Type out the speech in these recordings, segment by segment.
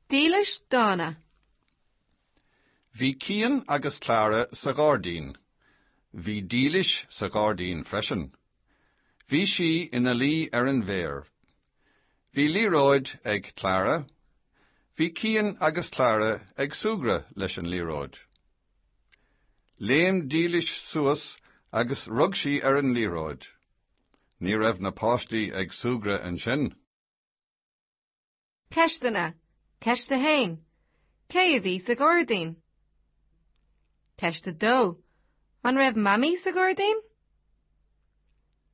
Dílis dána. Bhí Cian agus Clara sa ghairdín. Bhí Dílis sa ghairdín freisin. Bhí sí ina luí ar an bhféar. Bhí liathróid ag Clara. Bhí Cian agus Clara ag súgradh leis an liathróid. Léim Dílis suas agus rug sí ar an liathróid. Ní raibh na páistí ag súgradh ansin. Ceisteanna, Ceist 1. Cé a bhí sa ghairdín? Ceist 2. An raibh mamaí sa ghairdín?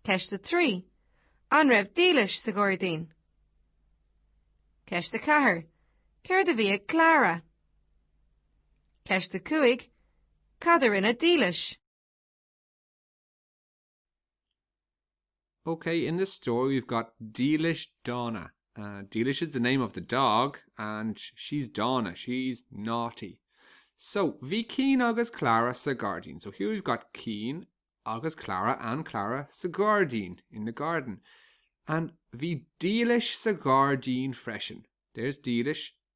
Ceist 3. An raibh Dílis sa ghairdín? Ceist 4. Céard a bhí ag Clara? Ceist 5. Cad a rinne Dílis? Ok, in this story we've got Dílis Dána. Uh, Dílis is the name of the dog, and she's Dána, she's naughty. So, bhí Keen agus Clara sa gardín. So here we've got Keen agus Clara and Clara sa gardín, in the garden. And bhí Dílis sa gardín freisin. There's Dílis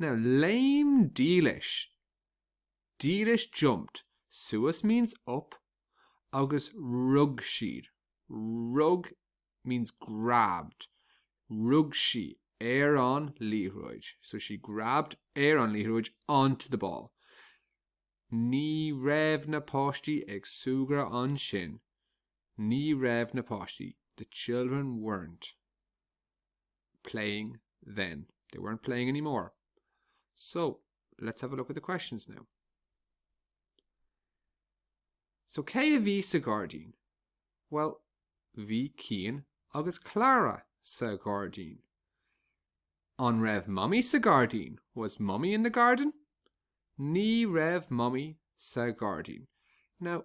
Now léim Dílis, Dílis jumped suas means up agus rug siad, rug means grabbed, rug sí ar an liathróid, so she grabbed ar an liathróid onto the ball. Ní raibh na páistí ag súgradh ansin, ní raibh na páistí, the children weren't. playing then. They weren't playing anymore. So let's have a look at the questions now. So cé a bhí sa gáirdín? Well, bhí Cian agus Clara sa gáirdín. An raibh mummy sa gáirdín? Was mummy in the garden? Ní raibh mummy sa gáirdín. Now,